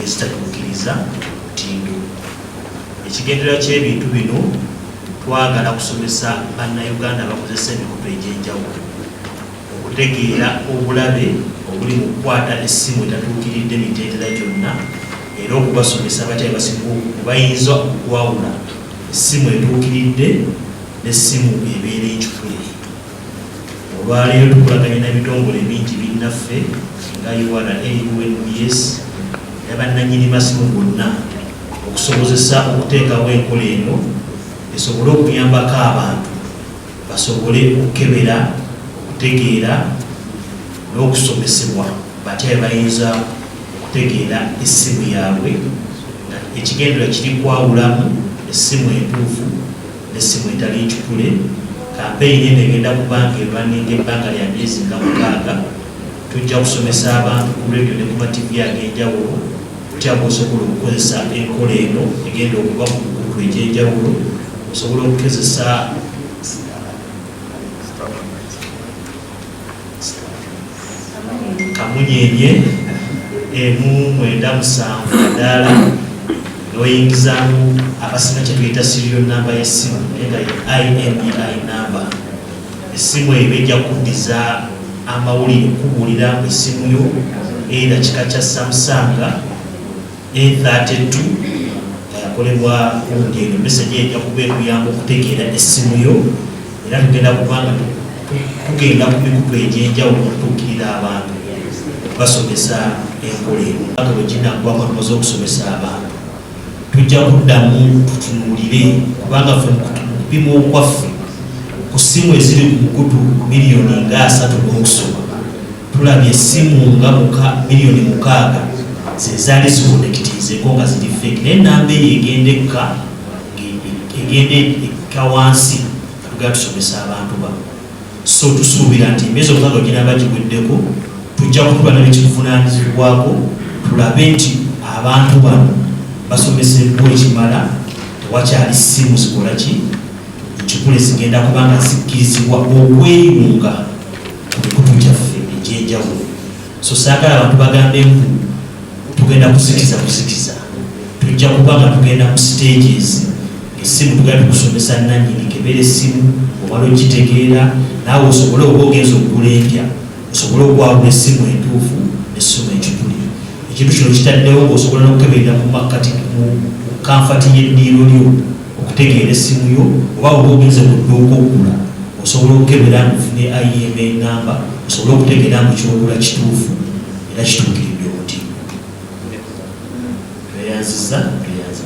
ezitatuukiriza mutindo. Ekigendererwa ky'ebintu bino twagala kusomesa Bannayuganda abakozesa emikutu egy'enjawulo okutegeera obulabe obuli mu kukwata essimu etatuukiridde mitendera gyonna era okubasomesa batya bayinza okwawula essimu etuukiridde n'essimu ebeera ekikule. Olwaleero tukolaganye n'ebitongole bingi binnaffe nga URA, UNBS ne bannanyini masimu bonna okusobozesa okuteekawo enkola eno esobole okuyambako abantu basobole okukebera okutegeera n'okusomesebwa batya bebayinza okutegeera essimu yaabwe ekigendera kiri kwawulamu essimu entuufu n'essimu etali ncupule. Kampeyini eno egenda kuba ng'erwanninga ebbanga lya myezi nga mukaaga. Tujja kusomesa abantu ku leediyo ne ku ma ttivvi ag'enjawulo butya bw'osobola okukozesa enkola eno egenda okuba ku mikutu egy'enjawulo. Osobola okugezesa. kamunyenye emu mwenda musanvu kadaala noyingizamu abasina kyetuyita sirio namba yesimu nga imei e namba esimu eyo bejja kuddiza amawulire kubuulira esimu yo era kika kya samusanga A32 nga yakolebwa kundi eno meseji ejja kuba ekuyamba okutegeera essimu yo era tugenda kubanga tugenda ku mikutu egy'enjawulo okutuukirira abantu basomesa enkola eno nga bwe ginaggwako tumaze okusomesa abantu tujja kuddamu tutunuulire kubanga fe mukupima okwaffe ku ssimu eziri ku mukutu miliyoni nga asatu n'okusoma Tulabye essimu nga muka miliyoni mukaaga zezaali zikonekitiizeeko nga ziri fake naye namba eyo egenda ekka egenda ekka wansi atugera tusomesa abantu ba so tusuubira nti emyezi omukaaga ginaba giweddeko tujja kutuba nabekikuvunanyizibwako tulabe nti abantu bano basomeseddwa ekimala tewakyali ssimu zikola ki nkikule zigenda kubanga zikkirizibwa okweyunga emikutu gyaffe egyenjawulo so saagala abantu bagambe mbu tugenda kuzikiza kuzikiza tujja kuba nga tugenda mu stages esimu tugenda tukusomesa nanyini kebera esimu obala okitegeera naawe osobole oba ogenza okugula empya osobole okwawula esimu entuufu esimu ekituli ekintu kino kitaddewo ngaosobola nokukeberera mu makkati mu kanfati y'eddiiro lyo okutegeera essimu yo oba bwoba ogenze ku dduuka okugula osobola okukebera mbu ofune IMA namba osobole okutegeera mbu kyogula kituufu era kituukiridde omutindo tweyanziza tweyanziza